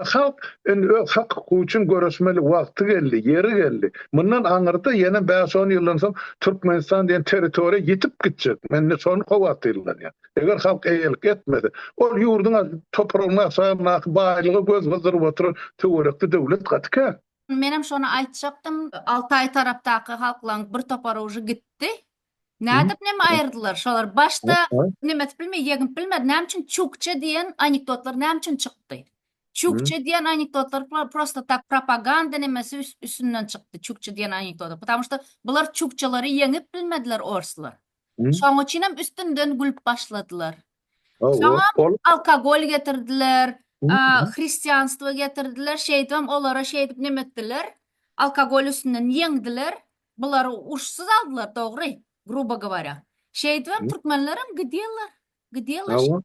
Halk indi öz hak-hukugy üçin göreşmeli wagty geldi, ýeri geldi. Mundan aňyrda ýene bäş-on ýyldan soň Türkmenistan diýen territoriýa ýitip gitjek. Men indi şony howatyrlanýan. Eger halk eýelik etmese, ol ýurduň topragynyň aşagyndaky baýlyga göz gyzdyryp oturan töwerekli döwlet gaty kän. Menem şony aýtjakdym. Altaý tarapdaky halklaň bir topary uje gitdi. Nädip näme aýyrdylar şolar başda näme edip bilme ýegip bilmedi näme üçin çukça diýen anekdotlar näme üçin çykdy çukça diýen anekdotlar prosta tak propaganda nämesi üstünden çykdy çukça diýen anekdotlar потому что bular çukçalary ýeňip bilmediler orslar şoň üçin hem üstünden gülüp başladylar şoň alkogol getirdiler hristianstvo getirdiler şeýdip hem olara şeýdip näme etdiler alkogol üstünden ýeňdiler Bular urşsuz aldylar dogry grubo govorya. Şeýdibem türkmenlerem gidýärler. Gidýärler. Hawa.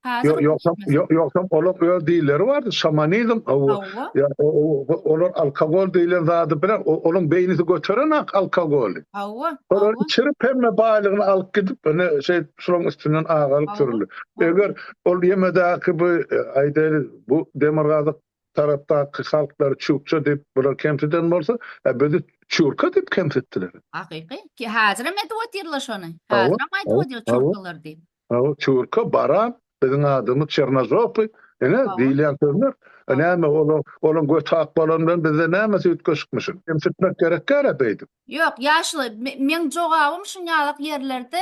Hazir Ýogsam ýo- ýogsam olar öz dilleri bardy şamanizm o Hawa. ýa- o- o- o- olar alkogol diýlen zady bilen o- olaryň beýnisi göteren ak alkogoly. Hawa. Olar Hawa. içirip hemme baýlygyny alyp gidip ine şeýdip şularyň üstünden agalyk Hawa. sürüldi. Eger ol ýemedäki bu e, aýdaýly bu demirgazyk tarapdaky halklar çukça diýip bular kemsiden bolsa, a bizi çurka diýip kemsitdiler. Hakyky. Ki hazirem edip otyrlar şony. Hazirem aýdyp otyr çurkalar diýip. Hawa, çurka, baran, biziň adymyz çernozopy, ine diýilýän sözler. A näme olar, olaň göti ak bolany bilen bizde näme süýtgeşikmişin. Kemsitmek gerek däl-ä beýdip. Ýok, ýaşuly, meň jogabym şunýalak ýerlerde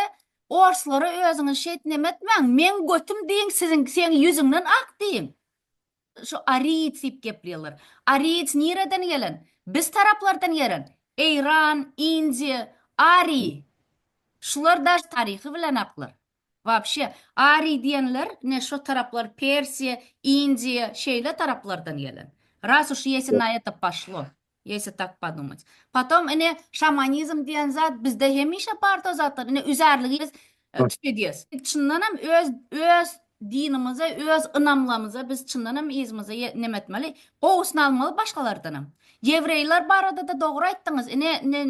orslara özüňiz şeýt nemetmäň, meň götüm diýiň siziň, seň ýüzüňden ak diýiň. Şu ariýic diýip geplýärler. Ariýic nireden gelen? Biz taraplardan gelen. Eýran, Indiýa, Ariý. Şular daş taryhy bilen aklar. Wapşe, ariý diýenler ine şo taraplar Persiýa, Indiýa, şeýle taraplardan gelen. Ras uş ýesinaýa da paşlo. Ýesi tak podumać. Potom ine şamanizm diýen zat bizde hemişe bar to zatlar. Ine üzärligi biz tükediýäs. Çyndan hem öz öz dinimize, öz ynamlamyza biz çyndan hem yzymyzy ýe neme etmeli, gowusyny almaly başgalardan hem. Ýewreýler barada-da dogry aýtdyňyz. Ine